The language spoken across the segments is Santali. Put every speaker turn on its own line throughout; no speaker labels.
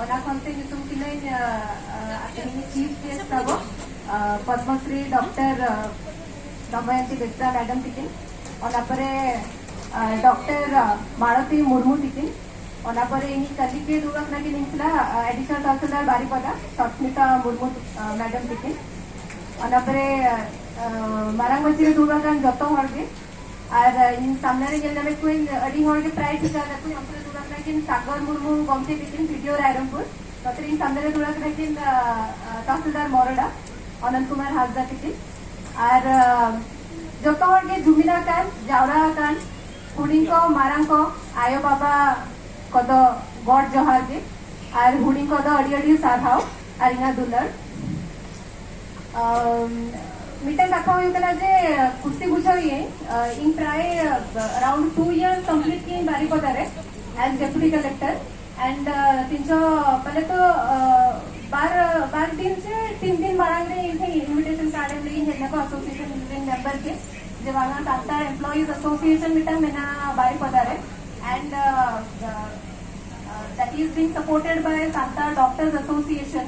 ᱚᱱᱟ ᱠᱷᱚᱱᱛᱮ ᱧᱩᱛᱩᱢ ᱠᱤᱱᱟᱹᱧ ᱛᱮᱦᱮᱧ ᱪᱤᱯ ᱜᱮᱥᱴ ᱛᱟᱵᱚ ᱯᱚᱫᱢᱚᱥᱨᱤ ᱰᱚᱠᱴᱚᱨ ᱫᱚᱢᱚᱭᱚᱱᱛᱤ ᱵᱮᱥᱨᱟ ᱢᱮᱰᱟᱢ ᱛᱤᱠᱤᱱ ᱚᱱᱟ ᱯᱚᱨᱮ ᱰᱚᱠᱴᱚᱨ ᱢᱟᱲᱚᱛᱤ ᱢᱩᱨᱢᱩ ᱛᱤᱠᱤᱱ ᱚᱱᱟ ᱯᱚᱨᱮ ᱤᱧ ᱠᱟᱹᱞᱤ ᱜᱮ ᱫᱩᱲᱩᱵ ᱟᱠᱟᱱᱟ ᱠᱤᱱ ᱤᱧ ᱥᱟᱞᱟᱜ ᱮᱰᱤᱥᱚᱱᱟᱞ ᱛᱚᱦᱥᱤᱞᱫᱟᱨ ᱵᱟᱨᱤᱯᱟᱫᱟ ᱥᱚᱥᱢᱤᱛᱟ ᱢᱩᱨᱢᱩ ᱢᱮᱰᱟᱢ ᱛᱤᱠᱤᱱ ᱚᱱᱟ ᱯᱚᱨᱮ ᱢᱟᱨᱟᱝ ᱢᱟᱹᱪᱤ ᱨᱮ ᱫᱩᱲᱩᱵ ᱟᱠᱟᱱ ᱡᱚᱛᱚ ᱦᱚᱲ ᱜᱮ ᱟᱨ ᱤᱧ ᱥᱟᱢᱱᱮ ᱨᱮ ᱧᱮᱞ ᱧᱟᱢᱮᱫ ᱠᱚᱣᱟᱹᱧ ᱟᱹᱰᱤ ᱦᱚᱲ ᱜᱮ ᱯᱨᱟᱭ ᱴᱷᱤᱠᱟ ᱠᱟᱜ ᱠᱚᱣᱟᱹᱧ ᱚᱱᱛᱮ ᱨᱮ ᱫᱩᱲᱩᱵ ᱟᱠᱟᱱᱟ ᱠᱤᱱ ᱥᱟᱜᱚᱨ ᱢᱩᱨᱢᱩ ᱜᱚᱢᱠᱮ ᱛᱤᱠᱤᱱ ᱵᱷᱤᱰᱤᱭᱳ ᱨᱟᱭᱨᱚᱝᱯᱩᱨ ᱱᱚᱛᱮ ᱨᱮ ᱤᱧ ᱥᱟᱢᱱᱮ ᱨᱮ ᱫᱩᱲᱩᱵ ᱟᱠᱟᱱᱟ ᱠᱤᱱ ᱛᱟᱥᱤᱞᱫᱟᱨ ᱢᱚᱨᱚᱰᱟ ᱚᱱᱚᱱᱛ ᱠᱩᱢᱟᱨ ᱦᱟᱸᱥᱫᱟ ᱛᱤᱠᱤᱱ ᱟᱨ ᱡᱚᱛᱚ ᱦᱚᱲ ᱜᱮ ᱡᱩᱢᱤᱫ ᱟᱠᱟᱱ ᱡᱟᱣᱨᱟ ᱟᱠᱟᱱ ᱦᱩᱰᱤᱧ ᱠᱚ ᱢᱟᱨᱟᱝ ᱠᱚ ᱟᱭᱳ ᱵᱟᱵᱟ ᱠᱚᱫᱚ ᱜᱚᱰ ᱡᱚᱦᱟᱨ ᱜᱮ ᱟᱨ ᱦᱩᱰᱤᱧ ᱠᱚᱫᱚ ᱟᱹᱰᱤ ᱟᱹᱰᱤ ᱥᱟᱨᱦᱟᱣ ᱟᱨ ᱤᱧᱟᱹᱜ ᱫᱩᱞᱟᱹᱲ ᱢᱤᱫᱴᱟᱝ ᱠᱟᱛᱷᱟ ᱦᱩᱭᱩᱜ ᱠᱟᱱᱟ ᱡᱮ ᱠᱩᱥᱤ ᱵᱩᱡᱷᱟᱹᱣ ᱤᱧ ᱤᱧ ᱯᱨᱟᱭ ᱟᱨᱟᱣᱩᱱᱰ ᱴᱩ ᱤᱭᱟᱨ ᱠᱚᱢᱯᱞᱤᱴ ᱠᱤᱧ ᱵᱟᱨᱤᱯᱟᱫᱟ ᱨᱮ ᱮᱡ ᱰᱮᱯᱩᱴᱤ ᱠᱟᱞᱮᱠᱴᱚᱨ ᱮᱱᱰ ᱛᱤᱱᱥᱚ ᱯᱟᱞᱮ ᱛᱚ ᱵᱟᱨ ᱵᱟᱨ ᱫᱤᱱ ᱥᱮ ᱛᱤᱱ ᱫᱤᱱ ᱢᱟᱲᱟᱝ ᱨᱮ ᱤᱧ ᱴᱷᱮᱱ ᱤᱱᱵᱷᱤᱴᱮᱥᱚᱱ ᱠᱟᱨᱰ ᱮᱢ ᱞᱟᱹᱜᱤᱫ ᱦᱮᱡ ᱱᱟᱠᱚ ᱮᱥᱳᱥᱤᱭᱮᱥᱚᱱ ᱨᱮᱱ ᱢᱮᱢᱵᱟᱨ ᱜᱮ ᱡᱮ ᱵᱟᱝᱟ ᱰᱟᱠᱛᱟᱨ ᱮᱢᱯᱞᱚᱭᱤᱡ ᱮᱥᱳᱥᱤᱭᱮᱥᱚᱱ ᱢᱤᱫᱴᱟᱝ ᱢᱮᱱᱟᱜᱼᱟ ᱵᱟᱨᱤᱯᱟᱫᱟ ᱨᱮ ᱮᱱᱰ ᱫᱟᱴ ᱤᱡ ᱵᱤᱝ ᱥᱟᱯᱳᱨᱴᱮᱰ ᱵᱟᱭ ᱥᱟᱱᱛᱟᱲ ᱰᱚᱠᱴᱚᱨᱥ ᱮᱥᱳᱥᱤᱭᱮᱥᱚᱱ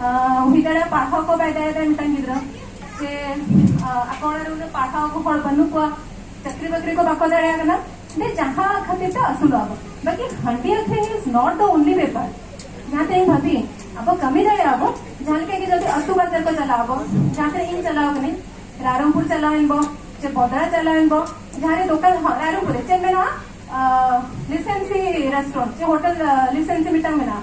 ᱦᱩᱭ ᱫᱟᱲᱮᱭᱟᱜᱼᱟ ᱯᱟᱲᱦᱟᱣ ᱠᱚ ᱵᱟᱭ ᱫᱟᱲᱮᱭᱟᱫᱟ ᱢᱤᱫᱴᱟᱝ ᱜᱤᱫᱽᱨᱟᱹ ᱥᱮ ᱟᱠᱚ ᱚᱲᱟᱜ ᱨᱮ ᱩᱱᱟᱹᱜ ᱯᱟᱲᱦᱟᱣ ᱠᱚ ᱦᱚᱲ ᱵᱟᱹᱱᱩᱜ ᱠᱚᱣᱟ ᱪᱟᱹᱠᱨᱤ ᱵᱟᱹᱠᱨᱤ ᱠᱚ ᱵᱟᱠᱚ ᱫᱟᱲᱮᱭᱟᱜ ᱠᱟᱱᱟ ᱫᱮ ᱡᱟᱦᱟᱸ ᱠᱷᱟᱹᱛᱤᱨ ᱛᱮ ᱟᱹᱥᱩᱞᱚᱜ ᱟᱵᱚ ᱵᱟᱹᱠᱤ ᱦᱟᱺᱰᱤ ᱟᱹᱠᱷᱨᱤᱧ ᱤᱡ ᱱᱚᱴ ᱫᱚ ᱚᱱᱞᱤ ᱵᱮᱯᱟᱨ ᱡᱟᱦᱟᱸ ᱛᱮ ᱤᱧ ᱵᱷᱟᱹᱵᱤ ᱟᱵᱚ ᱠᱟᱹᱢᱤ ᱫᱟᱲᱮᱭᱟᱜ ᱟᱵᱚ ᱡᱟᱦᱟᱸ ᱞᱮᱠᱟ ᱜᱮ ᱡᱩᱫᱤ ᱟᱹᱛᱩ ᱵᱟᱡᱟᱨ ᱠᱚ ᱪᱟᱞᱟᱜ ᱟᱵᱚ ᱡᱟᱦᱟᱸ ᱛᱤᱱᱟᱹᱜ ᱤᱧ ᱪᱟᱞᱟᱣ ᱠᱟᱹᱱᱟᱹᱧ ᱨᱟᱭᱨᱚᱝᱯᱩᱨ ᱪᱟᱞᱟᱣ ᱮᱱ ᱵᱚ ᱥᱮ ᱵᱚᱫᱲᱟ ᱪᱟᱞᱟᱣ ᱮᱱ ᱵᱚ ᱡᱟᱦᱟᱸ ᱨᱮ ᱫᱚᱠᱟᱱ ᱦᱚᱸ ᱨᱟᱭᱨᱚᱝᱯᱩᱨ ᱨᱮ ᱪᱮᱫ ᱢᱮᱱᱟᱜᱼᱟ ᱞᱤᱥᱮᱱᱥᱤ ᱨᱮᱥᱴᱩᱨᱮᱱᱴ ᱥᱮ ᱦᱳᱴᱮᱞ ᱞᱤᱥᱮᱱᱥᱤ ᱢᱤᱫᱴᱟᱝ ᱢᱮᱱᱟᱜᱼᱟ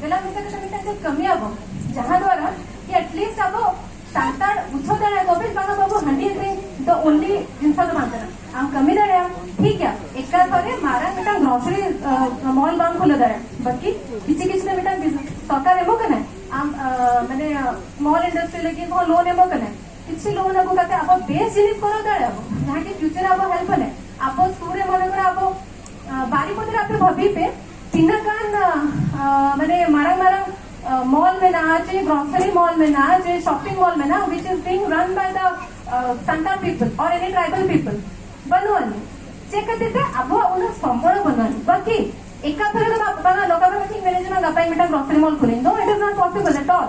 ᱡᱮᱞᱟ ᱢᱤᱥᱚᱱ ᱨᱮ ᱢᱤᱫᱴᱟᱝ ᱫᱚ ᱠᱟᱹᱢᱤ ᱟᱵᱚ ᱡᱟᱦᱟᱸ ᱫᱚᱣᱟᱨᱟ ᱠᱤ ᱮᱴᱞᱤᱥᱴ ᱟᱵᱚ ᱥᱟᱱᱛᱟᱲ ᱵᱩᱡᱷᱟᱹᱣ ᱫᱟᱲᱮ ᱟᱠᱚ ᱵᱮᱥ ᱵᱟᱝ ᱵᱟᱵᱚ ᱦᱟᱺᱰᱤ ᱟᱹᱠᱷᱨᱤᱧ ᱫᱚ ᱚᱱᱞᱤ ᱡᱤᱱᱤᱥ ᱫᱚ ᱵᱟᱝ ᱠᱟᱱᱟ ᱟᱢ ᱠᱟᱹᱢᱤ ᱫᱟᱲᱮᱭᱟᱜ ᱴᱷᱤᱠ ᱜᱮᱭᱟ ᱮᱠᱟᱞ ᱵᱷᱟᱵᱮ ᱢᱟᱨᱟᱝ ᱢᱤᱫᱴᱟᱝ ᱜᱨᱚᱥᱟᱨᱤ ᱢᱚᱞ ᱵᱟᱢ ᱠᱷᱩᱞᱟᱹᱣ ᱫᱟᱲᱮᱭᱟᱜᱼᱟ ᱵᱟᱹᱠᱤ ᱠᱤᱪᱷᱩ ᱠᱤᱪᱷᱩ ᱫᱚ ᱢᱤᱫᱴᱟᱝ ᱥᱚᱨᱠᱟᱨ ᱮᱢᱚᱜ ᱠᱟᱱᱟᱭ ᱟᱢ ᱢᱟᱱᱮ ᱢᱚᱞ ᱤᱱᱰᱟᱥᱴᱨᱤ ᱞᱟᱹᱜᱤᱫ ᱦᱚᱸ ᱞᱳᱱ ᱮᱢᱚᱜ ᱠᱟᱱᱟᱭ ᱠᱤᱪᱷᱩ ᱞᱳᱱ ᱟᱹᱜᱩ ᱠᱟᱛᱮ ᱟᱵᱚ ᱵᱮᱥ ᱡᱤᱱᱤᱥ ᱠᱚᱨᱟᱣ ᱫᱟᱲᱮᱭᱟᱜᱼᱟ ᱡᱟᱦᱟᱸ ᱠᱤ ᱯᱷᱤᱭᱩᱪᱟᱨ ᱟᱵᱚ ᱦᱮᱞᱯ ᱟᱞᱮ ᱟᱵᱚ ᱥᱩᱨ ᱨᱮ ᱢᱚᱱᱮ ᱠᱚᱨᱮ ᱟᱵᱚ ᱵᱟᱨᱤᱯᱚᱫ ᱨᱮ ᱟᱯᱮ ᱵᱷᱟᱵᱤ ᱯᱮ ᱛᱤᱱᱟᱹᱜ ᱜᱟᱱ ᱢᱟᱱᱮ ᱢᱟᱨᱟᱝ ᱢᱟᱨᱟᱝ ᱢᱚᱞ ᱢᱮᱱᱟᱜᱼᱟ ᱡᱮ ᱜᱨᱚᱥᱟᱨᱤ ᱢᱚᱞ ᱢᱮᱱᱟᱜᱼᱟ ᱡᱮ ᱥᱚᱯᱤᱝ ᱢᱚᱞ ᱢᱮᱱᱟᱜᱼᱟ ᱦᱩᱭᱤᱪ ᱤᱡ ᱵᱤᱝ ᱨᱟᱱ ᱵᱟᱭ ᱫᱟ ᱥᱟᱱᱛᱟᱲ ᱯᱤᱯᱚᱞ ᱚᱨ ᱮᱱᱤ ᱴᱨᱟᱭᱵᱟᱞ ᱯᱤᱯᱚᱞ ᱵᱟᱹᱱᱩᱜ ᱟᱹᱱᱤᱡ ᱪᱮᱫ ᱠᱷᱟᱹᱛᱤᱨ ᱛᱮ ᱟᱵᱚᱣᱟᱜ ᱩᱱᱟᱹᱜ ᱥᱚᱢᱵᱚᱲ ᱵᱟᱹᱱᱩᱜ ᱟᱹᱱᱤᱡ ᱵᱟᱹᱠᱤ ᱮᱠᱟᱛᱷᱟ ᱨᱮᱫᱚ ᱵᱟᱝᱟ ᱱᱚᱝᱠᱟ ᱫᱚ ᱵᱟᱹᱧ ᱢᱮᱱᱮᱫ ᱡᱮ ᱜᱟᱯᱟ ᱢᱤᱫᱴᱟᱝ ᱜᱨᱚᱥᱟᱨᱤ ᱢᱚᱞ ᱠᱷᱩᱞᱟᱹᱧ no it is not possible at all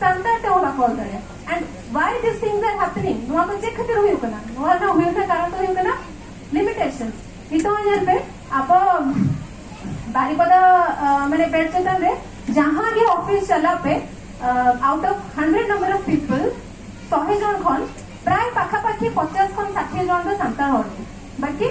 Santal ᱛᱮ ᱚᱞ ᱵᱟᱠᱚ ᱚᱞ ᱫᱟᱲᱮᱭᱟᱜᱼᱟ and why this things are happening ᱱᱚᱣᱟ ᱫᱚ ᱪᱮᱫ ᱠᱷᱟᱹᱛᱤᱨ ᱦᱩᱭᱩᱜ ᱠᱟᱱᱟ ᱱᱚᱣᱟ ᱨᱮᱱᱟᱜ ᱦᱩᱭᱩᱜ ᱨᱮᱱᱟᱜ ᱠᱟᱨᱚᱱ ᱫᱚ ᱦᱩᱭᱩᱜ ᱠᱟᱱᱟ ᱞᱤᱢᱤᱴᱮᱥᱚᱱ ᱱᱤᱛᱚᱜ ᱧᱮᱞ ᱯᱮ ᱟᱵᱚ ᱵᱟᱨᱤᱯᱟᱫᱟ ᱢᱟᱱᱮ ᱵᱮᱰ ᱪᱮᱛᱟᱱ ᱨᱮ ᱡᱟᱦᱟᱸ ᱜᱮ ᱚᱯᱷᱤᱥ ᱪᱟᱞᱟᱜ ᱯᱮ out of hundred number of people ᱥᱚᱦᱮ ᱡᱚᱱ ᱠᱷᱚᱱ ᱯᱨᱟᱭ ᱯᱟᱠᱷᱟᱯᱟᱠᱷᱤ ᱯᱚᱪᱟᱥ ᱠᱷᱚᱱ ᱥᱟᱴᱷᱤ ᱡᱚᱱ ᱫᱚ ᱥᱟᱱᱛᱟᱲ ᱦᱚᱲ ᱜᱮ ᱵᱟᱠᱤ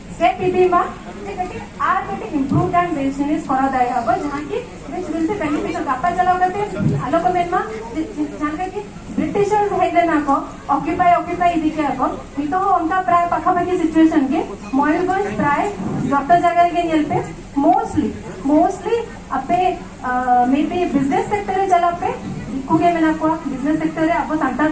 ᱥᱮ ᱯᱤᱯᱤᱢᱟ ᱡᱮ ᱠᱟᱹᱴᱤᱡ ᱟᱨ ᱠᱟᱹᱴᱤᱡ ᱤᱢᱯᱨᱩᱵᱷ ᱟᱱ ᱵᱤᱡᱽᱱᱮᱥ ᱠᱚᱨᱟᱣ ᱫᱟᱲᱮᱭᱟᱜ ᱟᱵᱚ ᱡᱟᱦᱟᱸ ᱠᱤ ᱵᱤᱪ ᱵᱤᱪ ᱛᱮ ᱵᱮᱱᱤᱯᱷᱤᱴ ᱜᱟᱯᱟ ᱪᱟᱞᱟᱣ ᱠᱟᱛᱮ ᱟᱞᱚ ᱠᱚ ᱢᱮᱱ ᱢᱟ ᱡᱟᱦᱟᱸ ᱞᱮᱠᱟ ᱠᱤ ᱵᱨᱤᱴᱤᱥᱟᱨ ᱦᱮᱡ ᱞᱮᱱᱟ ᱠᱚ ᱚᱠᱤᱯᱟᱭ ᱚᱠᱤᱯᱟᱭ ᱤᱫᱤ ᱠᱮᱫᱟ ᱠᱚ ᱱᱤᱛᱚᱜ ᱦᱚᱸ ᱚᱱᱠᱟ ᱯᱨᱟᱭ ᱯᱟᱠᱷᱟᱯᱟᱠᱷᱤ ᱥᱤᱪᱩᱭᱮᱥᱚᱱ ᱜᱮ ᱢᱚᱭᱩᱨᱵᱷᱚᱸᱡᱽ ᱯᱨᱟᱭ ᱡᱚᱛᱚ ᱡᱟᱭᱜᱟ ᱨᱮᱜᱮ ᱧᱮᱞ ᱯᱮ ᱢᱳᱥᱴᱞᱤ ᱢᱳᱥᱴᱞᱤ ᱟᱯᱮ ᱢᱮ ᱵᱤ ᱵᱤᱡᱽᱱᱮᱥ ᱥᱮᱠᱴᱚᱨ ᱨᱮ ᱪᱟᱞᱟᱜ ᱯᱮ ᱫᱤᱠᱩ ᱜᱮ ᱢᱮᱱᱟᱜ ᱠᱚᱣᱟ ᱵᱤᱡᱽᱱᱮᱥ ᱥᱮᱠᱴᱚᱨ ᱨᱮ ᱟᱵᱚ ᱥᱟᱱᱛᱟᱲ